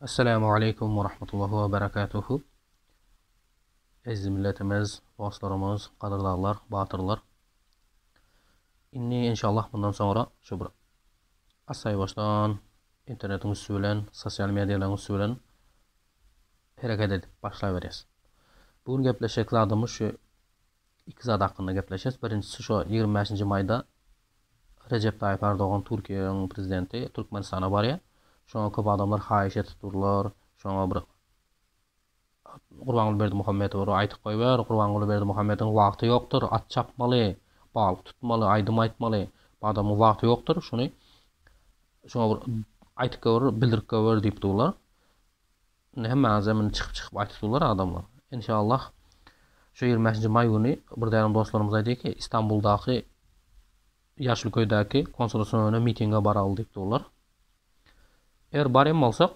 Assalamu aleykum we rahmetullahi we berekatuhu. Eziz milletimiz, dostlarymyz, gadyrdaglar, batyrlar. Indi inşallah bundan soňra şu bir asaýbaşdan internetiň üsti bilen, sosial medialaryň üsti bilen hereket edip başlaberýäs. Bu gün gepleşjek zadymyz şu Iki zat hakynda gepleşes. Birinjisi şo ýigrimi bäşinji maýda Rejep Taýyp Erdogan Türkiýäň prezidenti Türkmenistana barýar. Şoňa köp adamlar haýyş edip durlar. Şoňa bir Gurbanguly Berdimuhamedowa bir aýdyp goýber. Gurbanguly Berdimuhamediň wagty ýokdur. At çapmaly, balyk tutmaly, aýdym aýtmaly. Bu adamyň wagty ýokdur. Şuny şoňa bir aýdyp goýber, bildirip goýber diýip durlar. Indi hemme azem indi çykyp çykyp aýtyp durlar adamlar. Enşallah şu ýigrimi bäşinji maý güni bir dänem dostlarymyz aýdy ki Istanbuldaky ýaşyl köýdäki konsulosuna öne mitinge baraly diýip durlar. Eger bar hem bolsak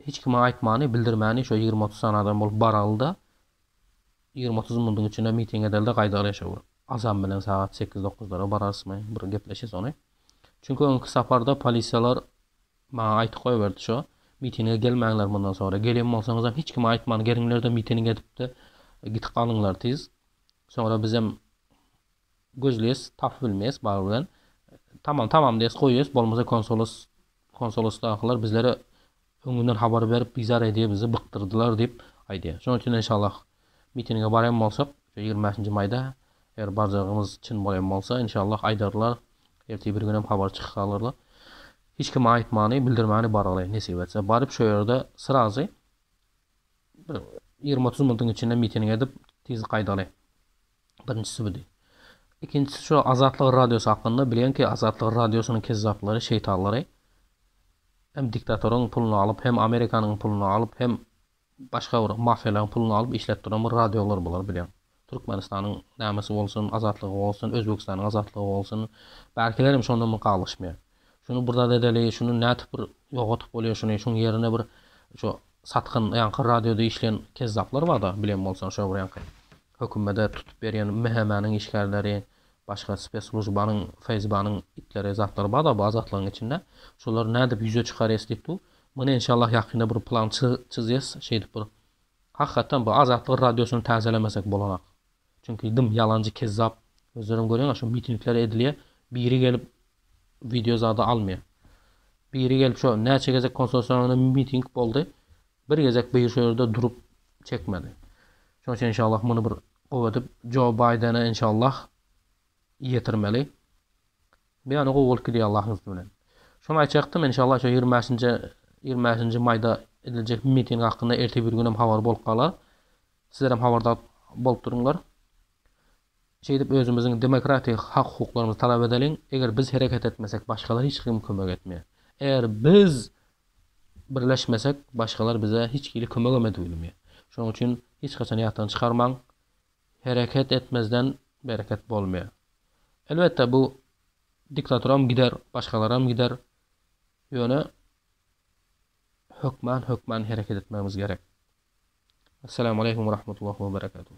hiç kime aýtmany bildirmäni şo ýigrimi otuz sany adam bolup baraly da ýigrimi otuz munduň içinde miting edeli de gaýdaly ýaşawur. Azam bilen sagat sekiz dokuzlara bararysmy bir gepleşis ony. Çünki öňki saparda polisiýalar Maňa aýtyp goýberdi şo, mitinge gelmäňler mundan soňra, gelen bolsaňyzam hiç kime aýtman geliňler-de miting edip-de gitip galyňlar tiz. Soňra bizem gözleýäs, tapyp bilmeýäs bagy bilen. Tamam, tamam diýýäs, goýýas, bolmasa konsolos, konsolosdakylar bizlere öňünden habar berip bizar edýär bizi, bykdyrdylar diýip aýdýar. Şonuň üçin enşallah Mitinge barýan bolsak, şu ýigrimi bäşinji maýda, eger barjagymyz çyn bolýan bolsa, inşallah, aýdarlar, ertir bir günem habar çykarylar. Hiç kime aýtmany, bildirmäni bargaly, nesip etse. Baryp şo ýerde srazy bir ýigrimi-otuz minutyň içinde miting edip, tiz gaýdaly. Birinjisi bu diý. Ikinjisi şo Azatlyk radiosy hakynda, bilýän ki, Azatlyk radiosynyň kezzaplary, şeýtanlary hem diktatoryň puluny alyp, hem Amerikanyň puluny alyp, hem Başga bir mafiýalaryň puluny alyp işläp duran bir radiolar bular bileň. Türkmenistanyň nämesi bolsun, azatlygy bolsun, Özbegistanyň azatlygy bolsun, bärkiler hem şondan bir galgyşmaýar. Şuny bir zat edeli, şuny nädip bir ýogadyp bolýar şuny, şuň ýerine bir şu satgyn ýaňky radioda işleýän kezzaplar barda bileň bolsaň şo bir ýaňky hökümede tutup berýän MHM-niň işgärleri, başga speslužbanyň, FSB-niň itleri, zatlary barda bu azatlygyň içinde, şolary nädip ýüze çykarýas diýip du, Muny enşallah ýakynda bir plan çyzýas şeýdip bir Hakykatdan bu Azatlyk radiosyny täzelemesek bolanak. Çünki dym ýalanjy kezzap özleriň görýäňa şu mitingler edilýä biri gelip wideo zada almýa. Biri gelip şo näçe gezek konsorsiýanyna miting boldy bir gezek bir şu ýerde durup çekmedi. Şoň üçin enşallah muny bir gowy edip Joe Baýdene enşallah ýetirmeli. Beýany gowy bolup gidýär Allahyň üsti bilen. Şony aýtjakdym enşalla şu ýigrimi bäşinji ýigrimi bäşinji maýda ediljek miting hakynda ertir bir günem habar bolup galar. Sizlerem habardar bolup durunlar. Şeýdip özümiziň demokratik hak hukuklarymyzy talap edeliň. Eger biz hereket etmesek başgalar hiç kim kömek etmeýär. Eger biz birleşmesek başgalar bize hiç hili kömegem edip bilmeýär. Şonuň üçin hiç haçan ýatdan çykarmaň. Hereket etmezden bereket bolmaýar. Elbetde bu diktatoram gider, başgalaram gider, ýöne hökman hökman hereket etmegimiz gerek. Essalamu aleýkum we rahmetullahi we berekatuh.